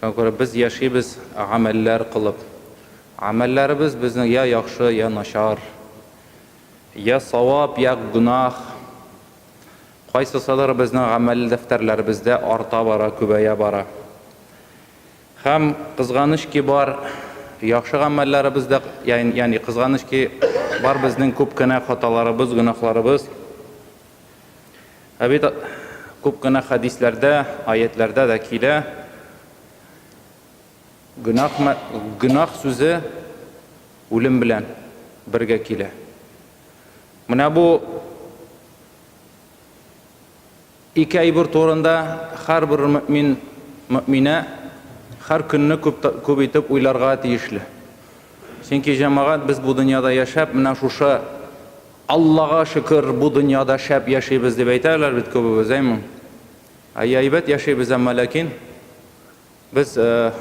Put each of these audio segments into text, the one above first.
Шуңа күрә без яшибез гамәлләр кылып. Гамәлләребез безнең я яхшы, я начар, я савап, я гөнаһ. Кайсысыдыр безнең гамәл дәфтәрләребездә арта бара, күбәя бара. Һәм, кызганыч ки бар, яхшы гамәлләребез дә, ягъни кызганыч ки бар безнең күп кенә хаталарыбыз, гөнаһларыбыз. Ә бит күп кенә хәдисләрдә, аятьләрдә дә килә, гөнаһ, гөнаһ сүзе үлем белән бергә килә. Менә бу ике әйбер турында һәрбер мөмин, мөминә һәр көнне күп, күп итеп уйларга тиешле. Чөнки җәмәгать без бу дөньяда яшәп, менә шушы Аллага шөкер, бу дөньяда шәп яшибез, дип әйтәләр бит күбебез, әйме? Әйе, әйбәт яшибез, әмма ләкин без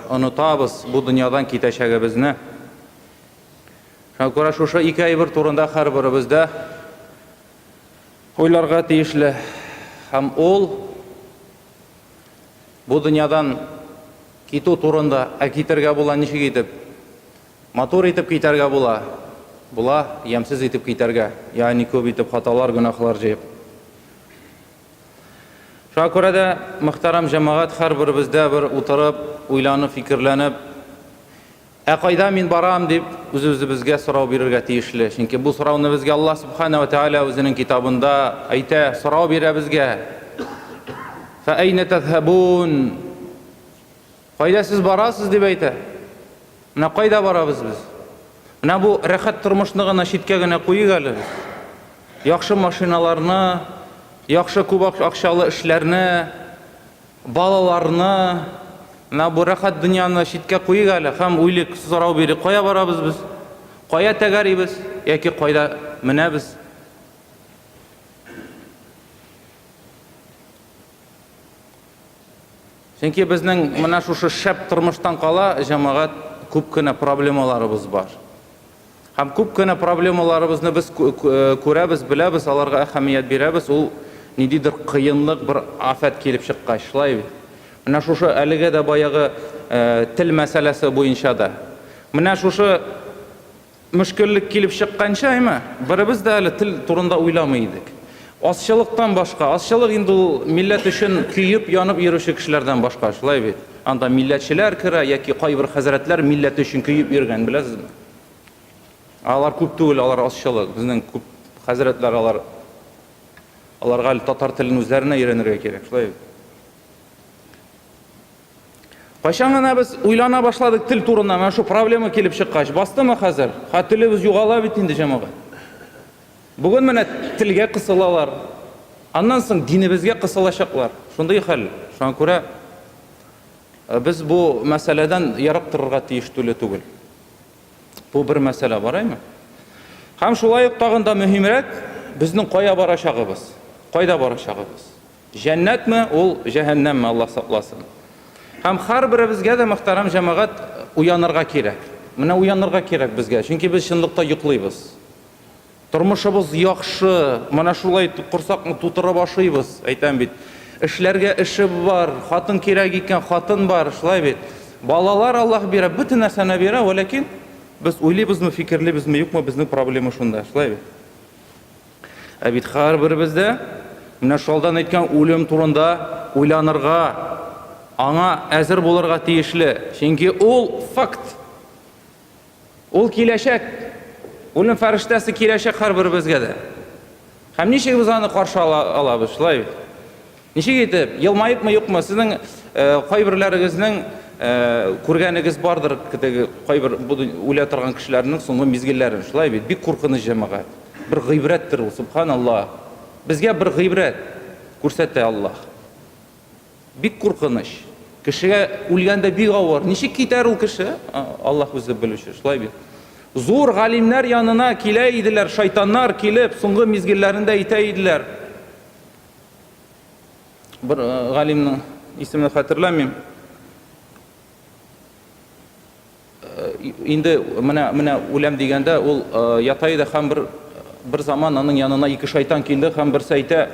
онытабыз бу дөньядан китәчәгебезне. Шуңа күрә шушы ике әйбер турында һәрберебез дә уйларга тиешле. Һәм ул бу дөньядан китү турында, ә китергә була ничек итеп? Матур итеп китәргә була, була, ямьсез итеп китәргә, ягъни күп итеп хаталар, гөнаһлар җыеп. Шуңа күрә дә, мөхтәрәм җәмәгать, һәрберебез дә бер утырып, уйланып, фикерләнеп, Ә кайда мин барам? дип, үз-үзебезгә сорау бирергә тиешле. Чөнки бу сорауны безгә Аллаһ Сүбхәнә вә Тәгалә Үзенең Китабында әйтә, сорау бирә безгә, Фә әйнә тәзһәбун? Кайда сез барасыз, дип әйтә. Менә кайда барабыз без. Менә бу рәхәт тормышны гына читкә генә куйыйк әле без. Яхшы машиналарны, яхшы күп акчалы эшләрне, балаларны, менә бу рәхәт дөньяны читкә куйыйк әле һәм уйлыйк, сорау бирик, кая барабыз без? Кая тәгәрибез яки кайда менәбез? Чөнки безнең менә шушы шәп тормыштан кала, җәмәгать, күп кенә проблемаларыбыз бар. Һәм күп кенә проблемаларыбызны без күрәбез, беләбез, аларга әһәмият бирәбез, ул ниндидер кыенлык, бер афәт килеп чыккач, шулай бит? Менә шушы әлегә дә баягы тел мәсьәләсе буенча да. Менә шушы Мөшкеллек килеп чыкканчы, әйме, беребез дә әле тел турында уйламый идек. Азчылыктан башка, азчылык инде ул милләт өчен көеп-янып йөрүче кешеләрдән башка, шулай бит? Анда милләтчеләр керә, яки кайбер хәзрәтләр милләте өчен көеп йөргән, беләсезме? Алар күп түгел, алар азчылык. Безнең күп хәзрәтләр алар, аларга әле татар телен үзләренә өйрәнергә кирәк, шулай бит? Кайчан гына без уйлана башладык тел турында, менә шу проблема килеп чыккач, бастымы хәзер? Ха телебез югала бит инде, җәмәгать. Бүген менә телгә кысылалар. Аннан соң динебезгә кысылачаклар. Шундый хәл. Шуңа күрә э, без бу мәсьәләдән ерак торырга тиеш түле түгел. Бу бер мәсьәлә бар, әйме? Һәм шулай ук тагын да мөһимрәк, безнең кая барачагыбыз, кайда барачагыбыз. Җәннәтме ул, җәһәннәмме, Аллаһ сакласын. Һәм һәрберебезгә дә, мөхтәрәм җәмәгать, уянырга кирәк. Менә уянырга кирәк безгә, чөнки без чынлыкта йоклыйбыз. Тормышыбыз яхшы, менә шулай корсакны тутырып ашыйбыз, әйтәм бит. Эшләргә эше бар, хатын кирәк икән, хатын бар, шулай бит. Балалар Аллаһ бирә, бөтен нәрсәне бирә, вәләкин без уйлыйбызмы, фикерлибезме, юкмы, безнең проблема шунда, шулай бит. Ә бит һәрберебез дә менә Шалдан әйткән үлем турында уйланырга, аңа әзер булырга тиешле, чөнки ул, факт! Ул киләчәк! Үлем фәрештәсе киләчәк һәрберебезгә дә! Һәм ничек без аны каршы алабыз, шулай бит? Ничек итеп? Елмаепмы-юкмы? Сезнең кайберләрегезнең күргәнегез бардыр теге кайбер бу үлә торган кешеләрнең соңгы мизгелләрен, шулай бит? Бик куркыныч, җәмәгать. Бер гыйбрәттер ул, сөбханалла. Безгә бер гыйбрәт күрсәтә Аллаһ. Бик куркыныч. Кешегә үлгәндә бик авыр. Ничек китәр ул кеше? Аллаһ үзе белүче, шулай бит? Зур галимнәр янына килә иделәр шайтаннар, килеп, соңгы мизгелләрендә әйтә иделәр. Бер э, галимның исемен хәтерләмим. Э, инде менә менә үләм дигәндә ул э, ята иде һәм бер бер заман аның янына ике шайтан килде һәм берсе әйтә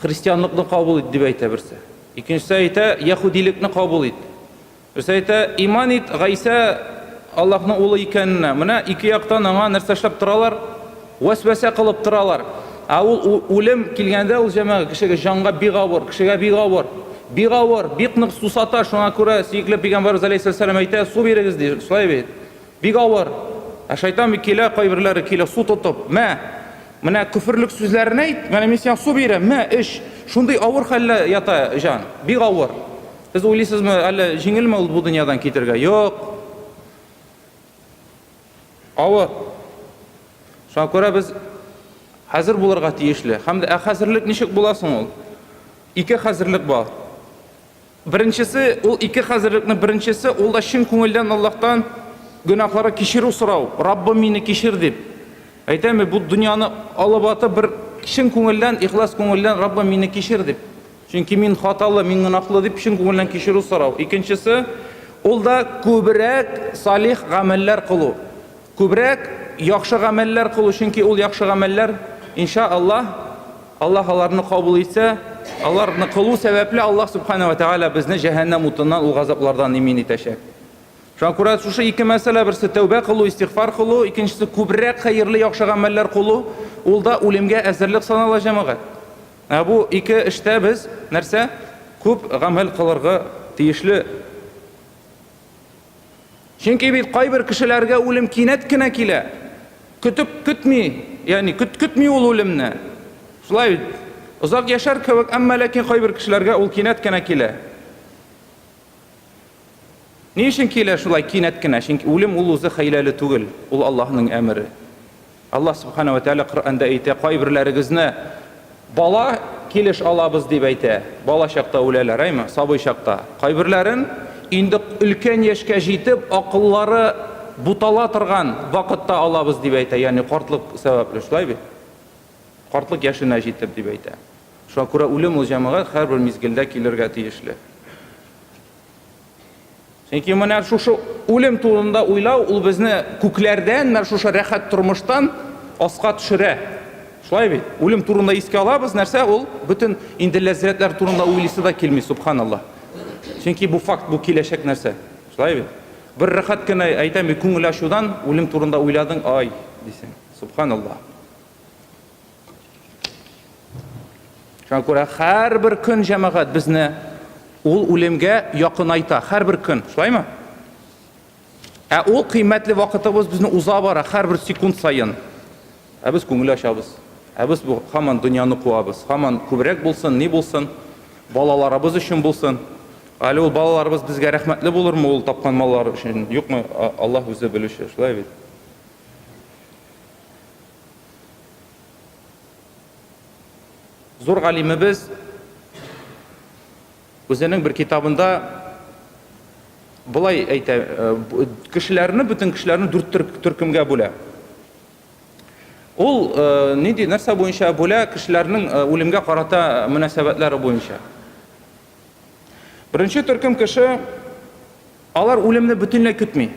христианлыкны кабул ит дип әйтә берсе. Икенчесе әйтә яһудилекне кабул ит. Берсе әйтә, Иман ит, Гайсә Аллаһның улы икәненә. Менә ике яктан аңа нәрсә эшләп торалар? Вәсвәсә кылып торалар. Ә ул үлем килгәндә, ул җәмәгать кешегә, җанга бик авыр, кешегә бик авыр. Бик авыр, бик нык сусата, шуңа күрә сөекле Пәйгамбәребез галәйһиссәлам әйтә, су бирегез ди, шулай бит? Бик авыр. Ә шайтан бит килә, кайберләре килә су тотып, мә, менә көферлек сүзләрен әйт, менә мин сиңа су бирәм, мә, эч. Шундый авыр хәлдә ята җан, бик авыр. Сез уйлыйсызмы, әллә җиңелме ул бу дөньядан китергә? Юк. Авыр. Шуңа күрә без хәзер булырга тиешле. Һәм дә ә хәзерлек ничек була соң ул? Ике хәзерлек бар. Беренчесе, ул ике хәзерлекнең беренчесе, ул да чын күңелдән Аллаһтан гөнаһлары кичерү сорау. Раббым мине кичер дип. Әйтәме, бу дөньяны алып атып бер чын күңелдән, ихлас күңелдән Раббым мине кичер дип. Чөнки мин хаталы, мин гөнаһлы, дип чын күңелдән кичерү сорау. Икенчесе, ул да күбрәк салих гамәлләр кылу. Күбрәк яхшы гамәлләр кылу, чөнки ул яхшы гамәлләр, инша Аллаһ, Аллаһ аларны кабул итсә, аларны кылу сәбәпле Аллаһ Сүбхәнә вә Тәгалә безне җәһәннәм утыннан, ул газаплардан имин итәчәк. Шуңа күрә шушы ике мәсьәлә, берсе тәүбә кылу, истигъфар кылу, икенчесе күбрәк хәерле, яхшы гамәлләр кылу, ул да үлемгә әзерлек санала, җәмәгать. Ә бу ике эштә без, нәрсә, күп гамәл кылырга тиешле. Чөнки бит кайбер кешеләргә үлем кинәт кенә килә. Көтеп көтми, ягъни көт-көтми ул үлемне. Шулай бит. Озак яшәр кебек, әмма ләкин кайбер кешеләргә ул кинәт кенә килә. Ни өчен килә шулай кинәт кенә? Чөнки үлем ул үзе хәйләле түгел, ул Аллаһның әмере. Аллаһ Субхана ва Тәгалә Коръәндә әйтә, кайберләрегезне бала килеш алабыз дип әйтә. Бала чакта үләләр, әйме, сабый чакта. Кайберләрен инде өлкән яшькә җитеп, акыллары бутала торган вакытта алабыз дип әйтә, ягъни картлык сәбәпле, шулай бит? Картлык яшенә җитеп дип әйтә. Шуңа күрә үлем ул җәмәгать һәрбер мизгелдә килергә тиешле. Чөнки менә шушы үлем турында уйлау ул безне күкләрдән менә шушы рәхәт тормыштан аска төшерә. Шулай бит? Үлем турында искә алабыз, нәрсә ул? Бөтен инде ләззәтләр турында уйлыйсы да килми, субханаллаһ. Чөнки бу факт, бу киләчәк нәрсә. Шулай бит? Бер рәхәт кенә әйтәм, күңел ачудан үлем турында уйладың, ай, дисең. Субханаллаһ. Шуңа күрә һәрбер көн җәмәгать безне ул үлемгә якынайта, һәрбер көн, шулаймы? Ә ул кыйммәтле вакытыбыз безне уза бара һәрбер секунд саен. Ә без күңел ачабыз. Ә без бу хаман дөньяны куабыз. Хаман күбрәк булсын, ни булсын, балаларыбыз өчен булсын. Әле ул балаларыбыз безгә рәхмәтле булырмы ул тапкан маллар өчен? Юкмы? Аллаһ үзе белүче, шулай бит. Зур галимебез үзенең бер китабында болай әйтә, э, кешеләрне, бөтен кешеләрне дүрт төркемгә бүлә. Ул э, нинди нәрсә буенча бүлә кешеләрнең э, үлемгә карата мөнәсәбәтләре буенча. Беренче төркем кеше алар үлемне бөтенләй көтми.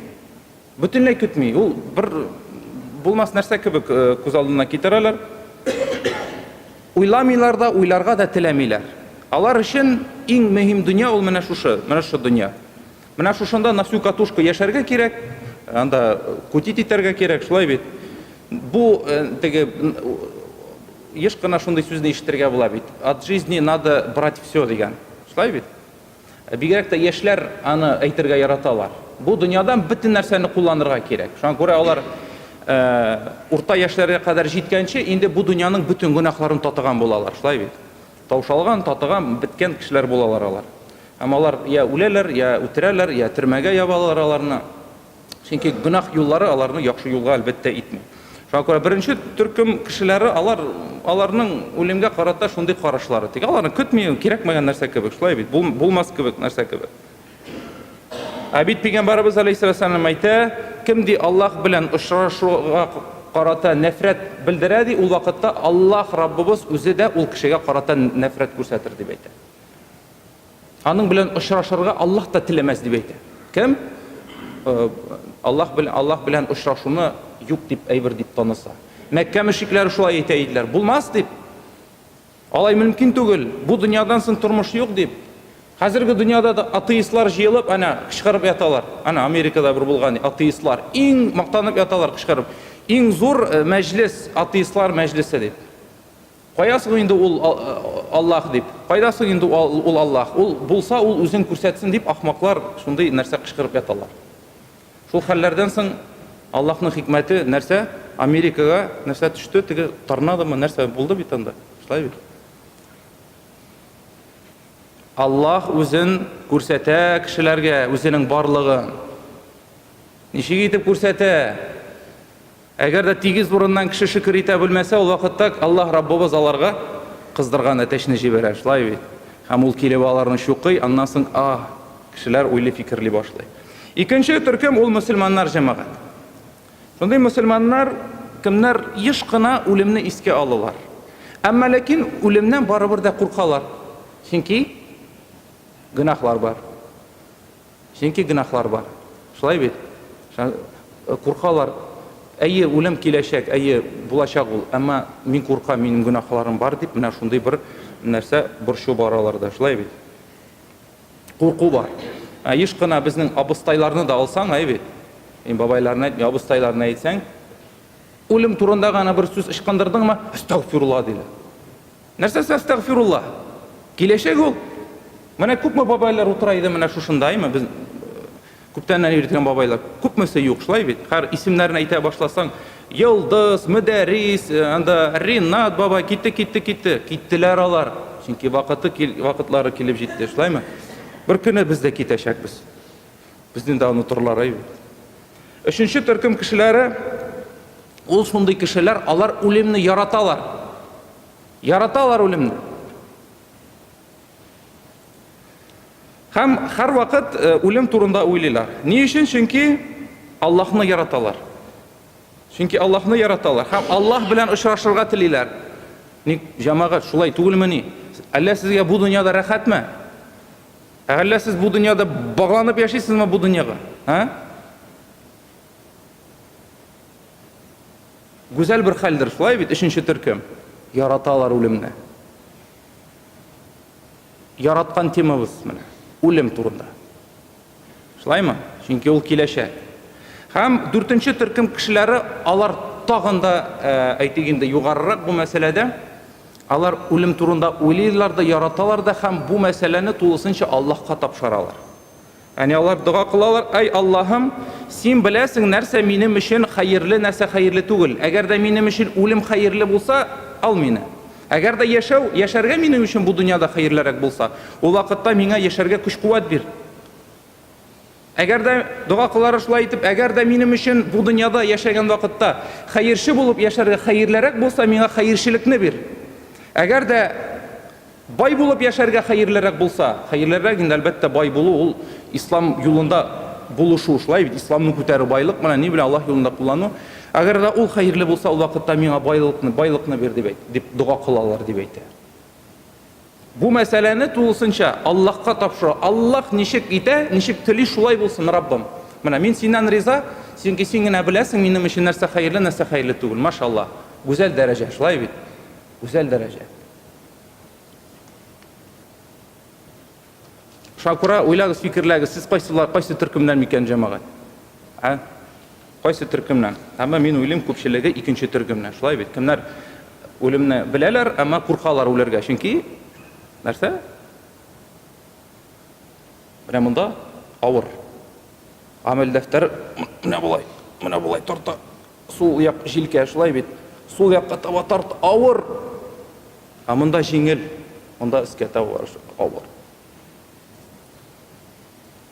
Бөтенләй көтми, ул бер булмас нәрсә кебек күз алдына китерәләр. Уйламыйлар да, уйларга да теләмиләр. Алар өчен иң мөһим дөнья ул менә шушы, менә шушы дөнья. Менә шушында на всю катушку яшәргә кирәк, анда кутить итәргә кирәк, шулай бит? Бу теге еш кына шундый сүзне ишетергә була бит, от жизни надо брать всё дигән. Шулай бит? Бигрәк тә яшьләр аны әйтергә яраталар. Бу дөньядан бөтен нәрсәне кулланырга кирәк. Шуңа күрә алар урта яшьләргә кадәр җиткәнче инде бу дөньяның бөтен гөнаһларын татыган булалар, шулай бит? Таушалган, татыган, беткән кешеләр булалар алар. Һәм алар я үләләр, я үтерәләр, я төрмәгә ябалар аларны. Чөнки гөнаһ юллары аларны яхшы юлга, әлбәттә, итми. Шуңа күрә беренче төркем кешеләре алар, аларның үлемгә карата шундый карашлары. Тик аларны көтми, кирәкмәгән нәрсә кебек, шулай бит, бул, булмас кебек нәрсә кебек. Ә бит Пәйгамбәребез алейһиссәлам әйтә, кем ди Аллаһ белән очрашуга карата нәфрәт белдерә, ди, ул вакытта Аллаһ Раббыбыз үзе дә ул кешегә карата нәфрәт күрсәтер, дип әйтә. Аның белән очрашырга Аллаһ та теләмәс дип әйтә. Кем? Аллаһ белән Аллаһ белән очрашуны юк дип әйбер дип таныса. Мәккә мөшрикләре шулай әйтә иделәр. Булмас дип. Алай мөмкин түгел. Бу дөньядан соң тормыш юк дип. Хәзерге дөньяда да атеистлар җыелып, әнә кычкырып яталар. Әнә Америкада бер булган атеистлар иң мактанып яталар кычкырып. Иң зур мәҗлес атеистлар мәҗлесе дип. Кая соң инде ул Аллаһ дип? Кайда соң инде ул Аллаһ? Ул булса, ул үзен күрсәтсен, дип ахмаклар шундый нәрсә кычкырып яталар. Шул хәлләрдән соң Аллаһның хикмәте нәрсә? Америкага нәрсә төште? Теге торнадомы, нәрсә булды бит анда? Шулай бит. Аллаһ үзен күрсәтә кешеләргә, үзенең барлыгын. Ничек итеп күрсәтә? Әгәр дә тигез урыннан кеше шөкер итә белмәсә, ул вакытта Аллаһ Раббыбыз аларга кыздырган әтәчне җибәрә, шулай бит? Һәм ул килеп аларны чукый, аннан соң, аһ, кешеләр уйлый-фикерли башлый. Икенче төркем, ул мөселманнар җәмәгать. Шундый мөселманнар, кемнәр еш кына үлемне искә алалар. Әмма ләкин үлемнән барыбер дә куркалар, чөнки гөнаһлар бар. Чөнки гөнаһлар бар. Шулай бит? Куркалар. Әйе, үлем киләчәк, әйе, булачак ул, әмма мин куркам, минем гөнаһларым бар, дип, менә шундый бер нәрсә, борчу бар аларда. Шулай бит? Курку бар. Ә еш кына безнең абыстайларны да алсаң, әйе бит? Мин бабайларны әйтмим, абыстайларны әйтсәң, үлем турында гына бер сүз ычкындырдыңмы, әстәгъфирулла, диләр. Нәрсәсе әстәгъфирулла? Киләчәк ул. Менә күпме бабайлар утыра иде менә шушында, әйме, без күптәннән йөртгән бабайлар. Күпмесе юк, шулай бит? Хәр исемнәрен әйтә башласаң, Йолдыз, Мөдәррис, э, анда Ринат бабай китте, китте, китте. Киттеләр алар, чөнки вакыты кил, вакытлары килеп җитте, шулаймы? Бер көне без дә китәчәкбез. Безне дә онытырлар, әйбит. Өченче төркем кешеләре, ул шундый кешеләр, алар үлемне яраталар. Яраталар үлемне. Һәм һәрвакыт э, үлем турында уйлыйлар. Ни өчен? Чөнки Аллаһны яраталар. Чөнки Аллаһны яраталар һәм Аллаһ белән очрашырга телиләр. Ник җәмәгать шулай түгелмени? Әллә сезгә бу дөньяда рәхәтме? Әллә сез бу дөньяда багланып яшисезме бу дөньяга? Ә? Гүзәл бер хәлдер шулай бит, өченче төркем. Яраталар үлемне. Яраткан темабыз менә, үлем турында. Шулаймы? Чөнки ул киләчәк. Һәм дүртенче төркем кешеләре, алар тагын да, әйтик инде, югарырак бу мәсьәләдә. Алар үлем турында уйлыйлар да, яраталар да һәм бу мәсьәләне тулысынча Аллаһка тапшыралар. Әни алар дога кылалар, Әй Аллаһым, Син беләсең, нәрсә минем өчен хәерле, нәрсә хәерле түгел. Әгәр дә минем өчен үлем хәерле булса, ал мине. Әгәр дә яшәү, яшәргә минем өчен бу дөньяда хәерлерәк булса, ул вакытта миңа яшәргә көч-куәт бир. Әгәр дә, дога кылары шулай итеп, әгәр дә минем өчен бу дөньяда яшәгән вакытта хәерче булып яшәргә хәерлерәк булса, миңа хәерчелекне бир. Әгәр дә бай булып яшәргә хәерлерәк булса, хәерлерәк инде, әлбәттә, бай булу, ул ислам юлында булышу, шулай бит, исламны күтәрү, байлык белән, ни белән, Аллаһ юлында куллану. Әгәр дә ул хәерле булса, ул вакытта миңа байлыкны, байлыкны бир, дип әйт, дип дога кылалар, дип әйтә. Бу мәсьәләне тулысынча Аллаһка тапшыру. Аллаһ ничек итә, ничек тели, шулай булсын, Раббым. Менә мин синнән риза, чөнки син генә беләсең минем өчен нәрсә хәерле, нәрсә хәерле түгел. Машаллаһ. Гүзәл дәрәҗә, шулай бит? Гүзәл дәрәҗә. Шакура, уйлагыз, фикерләгез, сез кайсылар, кайсы төркемнән микән, җәмәгать? Ә? Кайсы төркемнән? Әмма мин уйлыйм, күпчелеге икенче төркемнән. Шулай бит? Кемнәр үлемне беләләр, әмма куркалар үләргә, чөнки нәрсә? Менә монда авыр. Гамәл дәфтәр менә болай, менә болай тарта. Сул як җилкә, шулай бит? Сул якка таба тарт, авыр! Ә монда җиңел, монда өскә таба авыр.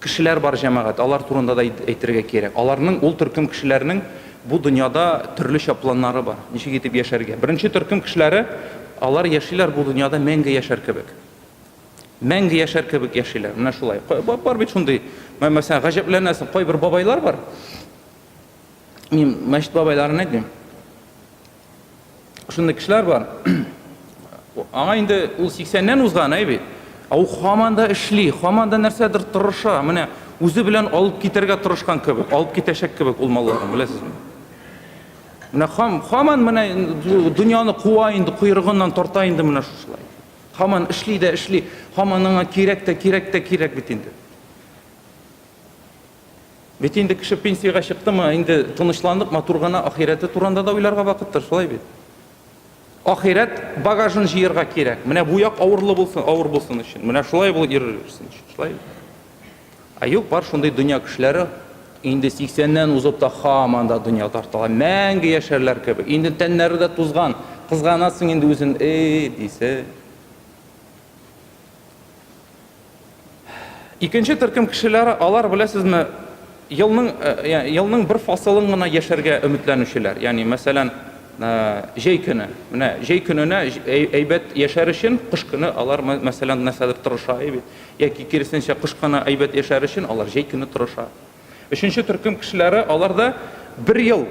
Кешеләр бар, җәмәгать, алар турында да әйтергә кирәк. Аларның, ул төркем кешеләрнең бу дөньяда төрлечә планнары бар, ничек итеп яшәргә. Беренче төркем кешеләре, алар яшиләр бу дөньяда мәңге яшәр кебек. Мәңге яшәр кебек яшиләр. Менә шулай. Бар бит шундый, мәсәлән, гаҗәпләнәсең, кайбер бабайлар бар. Мин мәчет бабайларын әйтмим. Шундый кешеләр бар. Аңа инде ул 80-нән узган әй бит. Ә ул хаман да эшли, хаман да нәрсәдер тырыша. Менә үзе белән алып китәргә тырышкан кебек, алып китәчәк кебек ул малларын, беләсезме? Менә хам, хаман менә дөньяны куа инде, куйрыгыннан тарта инде менә шушылай. Хаман эшли дә эшли, хаман аңа кирәк тә кирәк тә кирәк бит инде. Бит инде кеше пенсиягә чыктымы, инде тынычланып, матур гына ахирәте турында да уйларга вакыттыр, шулай бит? Ахирәт багажын җыярга кирәк. Менә бу як авырлы булсын, авыр булсын өчен. Менә шулай булып йөрерсен өчен, шулай бит? Ә юк, бар шундый дөнья кешеләре инде 80-нән узып та хаман да дөнья тарталар. Мәңге яшәрләр кебек. Инде тәннәре дә тузган. Кызганасың инде үзен, эй, дисең. Икенче төркем кешеләре, алар, беләсезме, елның, елның бер фасылын гына яшәргә өметләнүчеләр. Ягъни, мәсәлән, җәй көне. Менә җәй көненә әйбәт яшәр өчен, кыш көне алар, мәсәлән, нәрсәдер тырыша бит. Яки, киресенчә, кыш көне әйбәт яшәр өчен алар җәй көне тырыша. Өченче төркем кешеләре, алар да бер ел,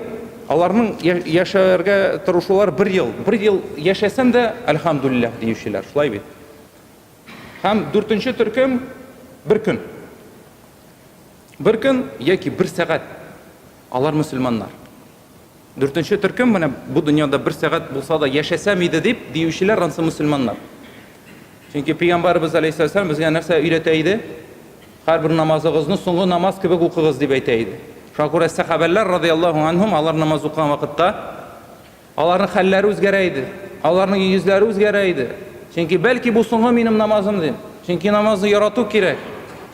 аларның яшәргә тырышулары бер ел. Бер ел яшәсәм дә, әлхәмдүлилләһ, диючеләр. Шулай бит? Һәм дүртенче төркем, бер көн. Бер көн яки бер сәгать алар мөселманнар. Дүртенче төркем менә бу дөньяда бер сәгать булса да яшәсәм иде дип диючеләр ансы мөселманнар. Чөнки пәйгамбәрбез алейһиссәлам безгә нәрсә өйрәтә иде? Һәрбер намазыгызны соңгы намаз кебек укыгыз дип әйтә иде. Шуңа күрә сәхабәләр радиаллаһу анһум алар намаз укыган вакытта Аларның хәлләре үзгәрә иде. Аларның йөзләре үзгәрә иде. Чөнки, бәлки, бу соңгы минем намазым, дим. Чөнки намазны ярату кирәк.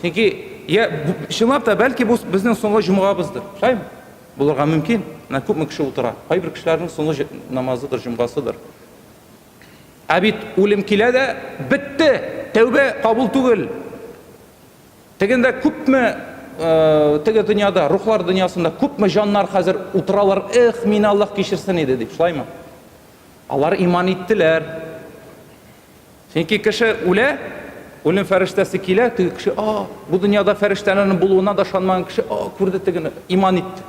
Чөнки, я, чынлап та, бәлки, бу безнең соңгы җомгабыздыр. Шулаймы? Булырга мөмкин. Менә күпме кеше утыра. Кайбер кешеләрнең соңгы намазыдыр, җомгасыдыр. Ә бит үлем килә дә, бетте! Тәүбә кабул түгел. Тегендә күпме, теге дөньяда, рухлар дөньясында күпме җаннар хәзер утыралар, эх, мине Аллаһ кичерсен иде дип, шулаймы? Алар иман иттеләр. Чөнки кеше үлә, үлем фәрештәсе килә, теге кеше, а, бу дөньяда фәрештәләрнең булуына да ышанмаган кеше, а, күрде тегене, иман итте.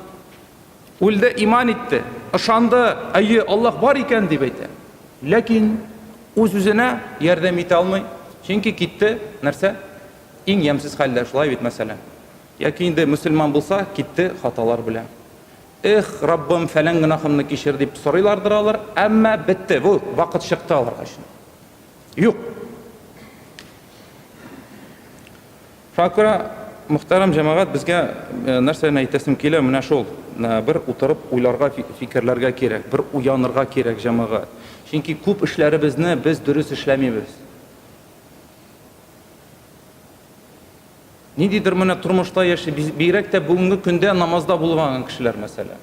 Үлде, иман итте, ышанды, әйе, Аллаһ бар икән дип әйтә. Ләкин үз-үзенә ярдәм итә алмый, чөнки китте, нәрсә? Иң ямьсез хәлдә, шулай бит, мәсәлән. Яки инде мөселман булса, китте хаталар белән. Эх, Раббым, фәлән гөнаһымны кичер дип сорыйлардыр алар, әмма бетте, бу вакыт чыкты аларга өчен. Юк. Факра, мөхтәрәм җәмәгать, безгә э, нәрсәне әйтәсем килә, менә шул. Э, бер утырып уйларга, фикерләргә кирәк, бер уянырга кирәк җәмәгать. Чөнки күп эшләребезне без дөрес эшләмибез. Ниндидер менә тормышта яши, бигрәк тә бүгенге көндә намазда булмаган кешеләр, мәсәлән.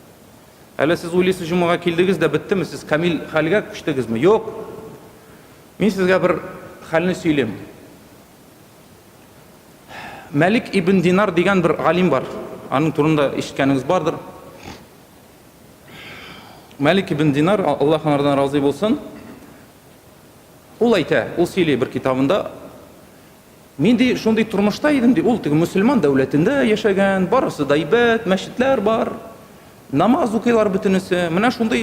Әле сез уйлыйсыз, җомага килдегез дә беттеме, сез камил хәлгә күчтегезме? Юк. Мин сезгә бер хәлне сөйлим. Мәлик ибн Динар дигән бер галим бар. Аның турында ишеткәнегез бардыр. Мәлик ибн Динар, Аллаһ анардан разый булсын, ул әйтә, ул сөйли бер китабында, Мин, ди, шундый тормышта идем, ди, ул теге мөселман дәүләтендә яшәгән, барысы да әйбәт, мәчетләр бар, намаз укыйлар бөтенесе, менә шундый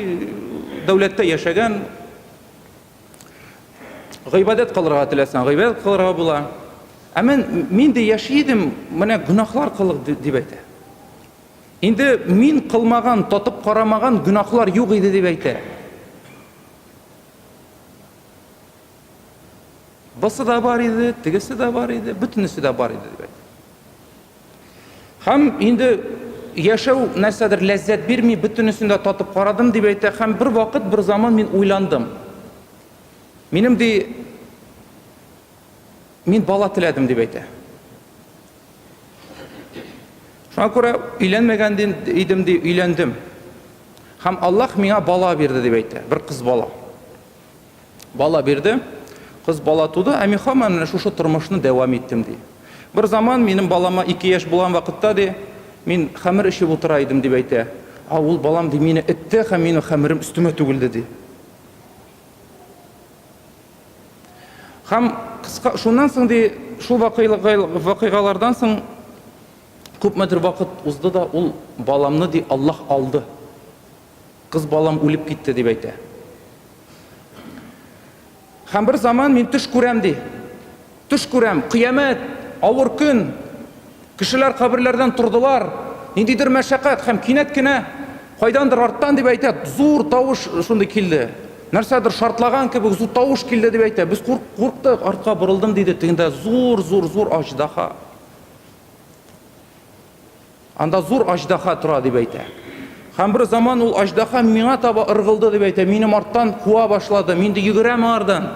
дәүләттә яшәгән, гыйбадәт кылырга теләсәң, гыйбадәт кылырга була. Ә мен, мин дә яши идем, менә гөнаһлар кылып дип әйтә. Инде мин кылмаган, татып карамаган гөнаһлар юк иде дип әйтә. Бусы да бар иде, тегесе дә бар иде, бөтенесе дә бар иде дип әйтте. Һәм инде яшәү нәрсәдер ләззәт бирми, бөтенесен дә татып карадым дип әйтә, һәм бер вакыт, бер заман мин уйландым. Минем ди мин бала теләдем дип әйтә. Шуңа күрә өйләнмәгән идем ди, өйләндем. Һәм Аллаһ миңа бала бирде дип әйтә, бер кыз бала. Бала бирде, кыз бала туды, ә мин хаман менә шушы тормышны дәвам иттем, ди. Бер заман минем балама ике яшь булган вакытта, ди, мин хәмер эчеп утыра идем, дип әйтә. А ул балам, ди, мине этте һәм минем хәмерем өстемә түгелде, ди. Һәм кыска, шуннан соң, ди, шул вакыйгалардан соң күпмедер вакыт узды да ул баламны, ди, Аллаһ алды. Кыз балам үлеп китте, дип әйтә. Һәм бер заман мин төш күрәм, ди. Төш күрәм, кыямәт, авыр көн. Кешеләр каберләрдән тордылар, ниндидер мәшәкать һәм кинәт кенә кайдандыр арттан дип әйтә, зур тавыш шундый килде. Нәрсәдер шартлаган кебек зур тавыш килде дип әйтә. Без курк, курктык, артка борылдым, диде. Тегендә зур, зур, зур аҗдаһа. Анда зур аҗдаһа тора, дип әйтә. Һәм бер заман ул аҗдаһа миңа таба ыргылды, дип әйтә, минем арттан куа башлады, мин дә йөгерәм аңардан,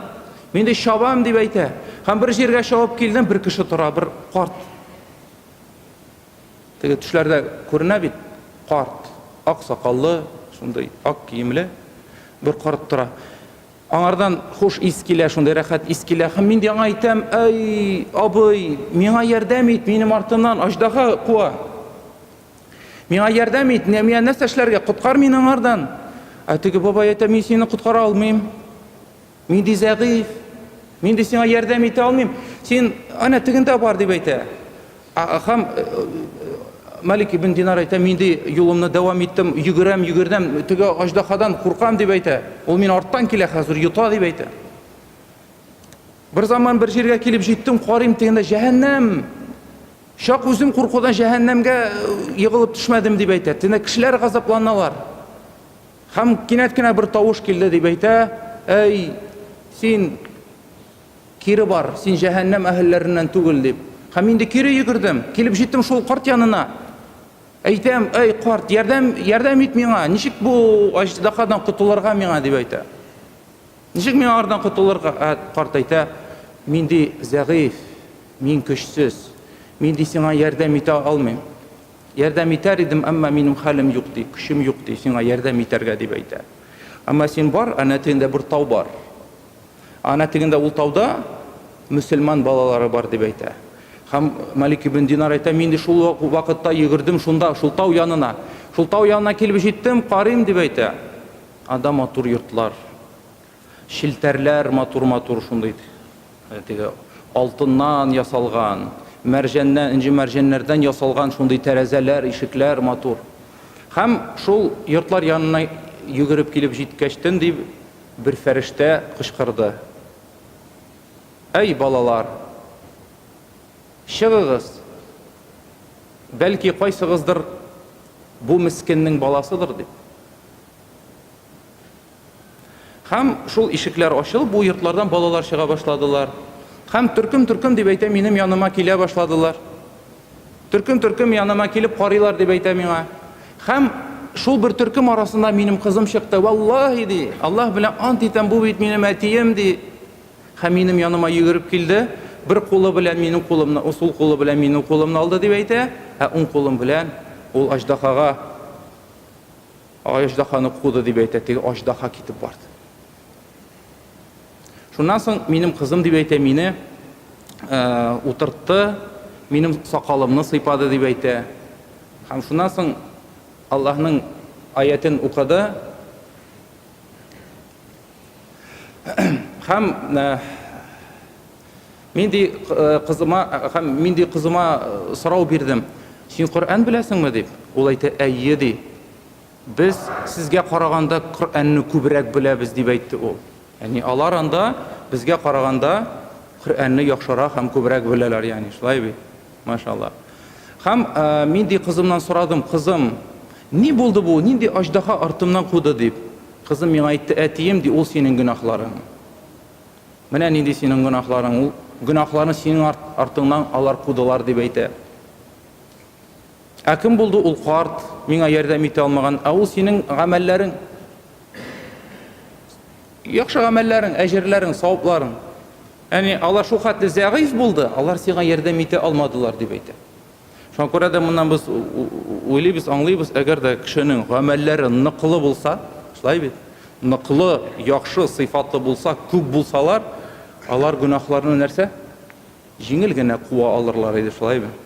мин дә чабам, дип әйтә. Һәм бер җиргә чабып килдем, бер кеше тора, бер карт. Теге төшләрдә күренә бит, карт, ак сакаллы, шундый ак киемле бер карт тора. Аңардан хуш ис килә, шундый рәхәт ис килә һәм мин яңа әйтәм, Әй, абый, миңа ярдәм ит, минем артымнан аҗдаһа куа. Миңа ярдәм ит, Нәмия, нәрсә эшләргә, коткар мине аңардан. Ә теге бабай әйтә, мин сине коткара алмыйм. Мин ди зәгыйфь. Мин ди сиңа ярдәм итә алмыйм. Син ана тегендә бар дип әйтә. Һәм Малик ибн Динар әйтә, мин ди юлымны дәвам иттем, йөгерәм, йөгердәм, теге аждаһадан куркам дип әйтә. Ул мин арттан килә хәзер, йота дип әйтә. Бер заман бер җиргә килеп җиттем, карыйм тегендә җәһәннәм. Чак үзем куркудан җәһәннәмгә егылып төшмәдем дип әйтә. Тенә кешеләр газапланалар. Һәм кинәт кенә бер тавыш килде дип әйтә. Әй, син Кире бар, син җәһәннәм әһелләреннән түгел, дип. Һәм инде кире йөгердем. Килеп җиттем шул карт янына. Әйтәм, әй, карт, ярдәм, ярдәм ит миңа, ничек бу аҗдаһадан котылырга миңа, дип әйтә. Ничек миңа ардан котылырга? Ә карт әйтә, мин ди зәгыйф, мин көчсез, мин ди сиңа ярдәм итә алмыйм. Ярдәм итәр идем, әмма минем хәлем юк, ди, көчем юк, ди, сиңа ярдәм итәргә, дип әйтә. Әмма син бар, әнә тегендә бер тау бар. Ана тегендә ул тауда мөселман балалары бар дип әйтә. Һәм Малик ибн Динар әйтә, мин дә шул вакытта йөгердем шунда, шул тау янына. Шул тау янына килеп җиттем, карыйм дип әйтә. Анда матур йортлар, челтәрләр матур-матур шундый теге алтыннан ясалган, мәрҗәннән, энҗе мәрҗәннәрдән ясалган шундый тәрәзәләр, ишекләр матур. Һәм шул йортлар янына йөгереп килеп җиткәчтен дип Бер фәрештә кычкырды. Әй, балалар! Чыгыгыз! Бәлки, кайсыгыздыр бу мескеннең баласыдыр дип. Һәм шул ишекләр ачылып, бу йортлардан балалар чыга башладылар. Һәм төркем-төркем дип әйтә, минем яныма килә башладылар. Төркем-төркем яныма килеп карыйлар, дип әйтә миңа. Һәм шул бер төркем арасында минем кызым чыкты. Валлаһи, ди, Аллаһ белән ант итәм, бу бит минем әтием, ди. Һәм минем яныма йөгереп килде, бер кулы белән минем кулымны, сул кулы белән минем кулымны алды, дип әйтә, ә уң кулым белән ул аҗдахага, аҗдаханы куды, дип әйтә, теге аҗдаха китеп барды. Шуннан соң минем кызым дип әйтә, мине утыртты, минем сакалымны сыйпады дип әйтә. Һәм шуннан соң Аллаһның аятен укыды. Һәм мин ди кызыма, һәм мин ди кызыма сорау бирдем. Син Коръән беләсеңме дип? Ул әйтә, әйе ди. Без сезгә караганда Коръәнне күбрәк беләбез, дип әйтте ул. Ягъни алар анда безгә караганда Коръәнне яхшырак һәм күбрәк беләләр, ягъни шулай бит? Машаллаһ. Һәм мин ди кызымнан сорадым, Кызым, ни булды бу, нинди аҗдаһа артымнан куды, дип. Кызым миңа әйтте, Әтием, ди, ул синең гөнаһларың. Менә нинди синең гөнаһларың, ул гөнаһларны синең арт, артыңнан алар кудылар, дип әйтә. Ә кем булды ул карт, миңа ярдәм итә алмаган? Ә ул синең гамәлләрең. Яхшы гамәлләрең, әҗерләрең, савапларың. Яни алар шул хәтле зәгыйф булды, алар сиңа ярдәм итә алмадылар дип әйтә. Шуңа күрә дә моннан без уйлыйбыз, аңлыйбыз, әгәр дә кешенең гамәлләре ныклы булса, шулай бит, ныклы, яхшы, сыйфатлы булса, күп булсалар, алар гөнаһларны нәрсә? Җиңел генә куа алырлар иде, шулай бит.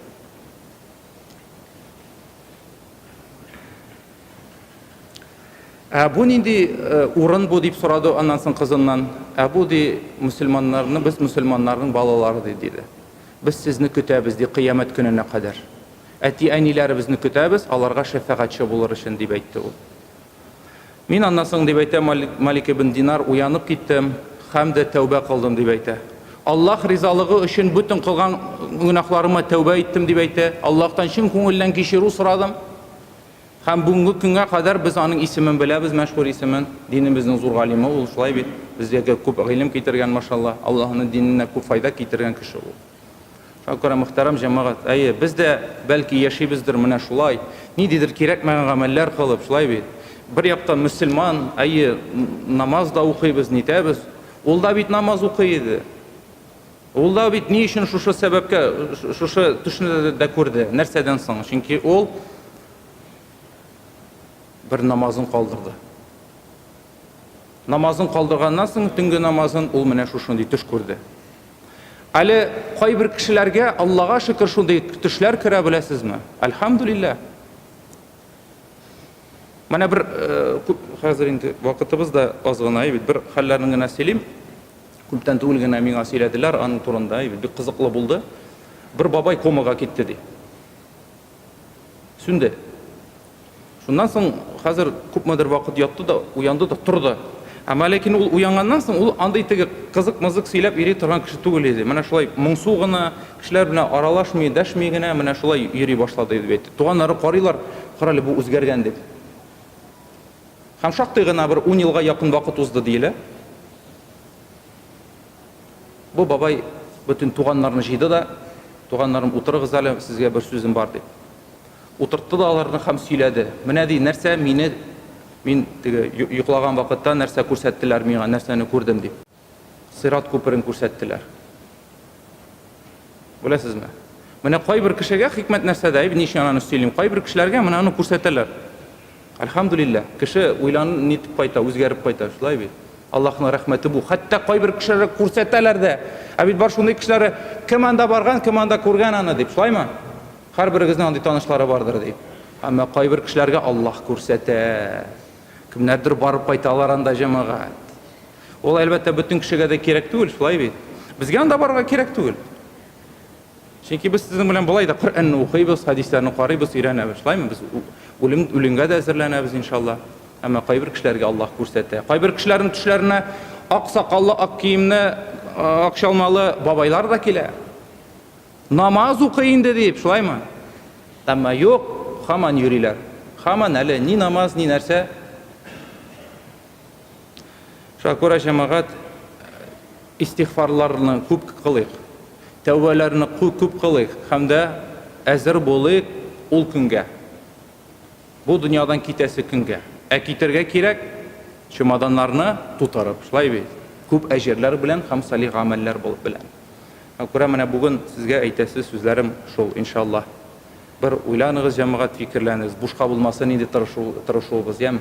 Ә бу нинди э, урын бу дип сорады аннан соң кызыннан. Ә бу ди мусульманнарны без мусульманнарның балалары ди диде. Без сезне көтәбез ди кыямәт көненә кадәр. Әти-әниләребезне көтәбез, аларга шәфәгатьче булыр өчен дип әйтте ул. Мин аннан соң, дип әйтә Малик ибн Динар, уянып киттем һәм дә тәүбә кылдым, дип әйтә. Аллаһ ризалыгы өчен бөтен кылган гөнаһларыма тәүбә иттем, дип әйтә. Аллаһтан чын күңелдән кичерү сорадым. Һәм бүгенге көнгә кадәр без аның исемен беләбез, мәшһүр исемен. Динебезнең зур галиме ул, шулай бит? Безгә күп гыйлем китергән, машалла. Аллаһның диненә күп файда китергән кеше ул. Шакура, мөхтәрәм җәмәгать, әйе, без дә, бәлки, яшибездер менә шулай, нидидер кирәкмәгән гамәлләр кылып, шулай бит? Бер яктан, мөселман, әйе, намаз да укыйбыз, нитәбез. Ул да бит намаз укый иде. Ул да бит ни өчен шушы сәбәпкә, шушы төшне дә күрде? Нәрсәдән соң? Чөнки ул бер намазын калдырды. Намазын калдырганнан соң төнге намазын ул менә шушындый төш күрде. Әле кайбер кешеләргә Аллага шөкер шундый төшләр керә беләсезме? Альхамдулиллах. Менә бер э, хәзер инде вакытыбыз да аз гына, бит бер хәлләрен генә сөйлим. Күптән түгел генә миңа сөйләделәр аның турында, бик кызыклы булды. Бер бабай комага китте ди. Сүнде. Шуннан соң хәзер күпмедер вакыт ятты да, уянды да, торды. Әмма ләкин ул уянганнан соң ул андый теге кызык-мызык сөйләп йөри торган кеше түгел иде. Менә шулай моңсу гына, кешеләр белән аралашмый, дәшми генә менә шулай йөри башлады дип әйтте. Туганнары карыйлар, карале, бу үзгәргән дип. Һәм шактый гына бер ун елга якын вакыт узды диелә. Бу бабай бөтен туганнарны җыйды да, Туганнарым, утырыгыз әле, сезгә бер сүзем бар, дип. Утыртты да аларны һәм сөйләде. Менә ди, нәрсә мине, мин теге йоклаган вакытта нәрсә күрсәттеләр миңа, нәрсәне күрдем, дип. Сират күперен күрсәттеләр. Беләсезме? Менә кайбер кешегә хикмәт нәрсәдә, Ибн Ишананы сөйлим, кайбер кешеләргә менә аны күрсәтәләр. Альхамдулилла, кеше уйлан нитеп кайта, үзгәреп кайта, шулай бит. Аллаһның рәхмәте бу. Хәтта кайбер кешеләргә күрсәтәләр дә. Ә бит бар шундый кешеләре, кем анда барган, кем анда күргән аны дип, шулаймы? Һәрберегезнең андый танышлары бардыр дип. Әмма кайбер кешеләргә Аллаһ күрсәтә. Кемнәрдер барып кайталар анда җәмәгать. Ул, әлбәттә, бөтен кешегә дә кирәк түгел, шулай бит? Безгә анда барырга кирәк түгел. Чөнки без сезнең белән болай да Коръәнне укыйбыз, хәдисләрне карыйбыз, өйрәнәбез. Шулаймы? Без үлем, үлемгә дә әзерләнәбез, иншалла. Әмма кайбер кешеләргә Аллаһ күрсәтә. Кайбер кешеләрнең төшләренә ак сакаллы, ак киемне, ак чалмалы бабайлар да килә. Намаз укый инде дип, шулаймы? Әмма юк, хаман йөриләр. Хаман әле ни намаз, ни нәрсә. Шуңа күрә, җәмәгать, истигъфарларны күп кылыйк, тәүбәләрне күп кылыйк һәм дә әзер булыйк ул көнгә, бу дөньядан китәсе көнгә. Ә китәргә кирәк, чемоданнарны тутырып, шулай бит, күп әҗерләр белән һәм салих гамәлләр белән. Шуңа күрә менә бүген сезгә әйтәсе сүзләрем шул, иншаллаһ. Бер уйланыгыз, җәмәгать, фикерләнегез, бушка булмасын инде тырышуыбыз, яме?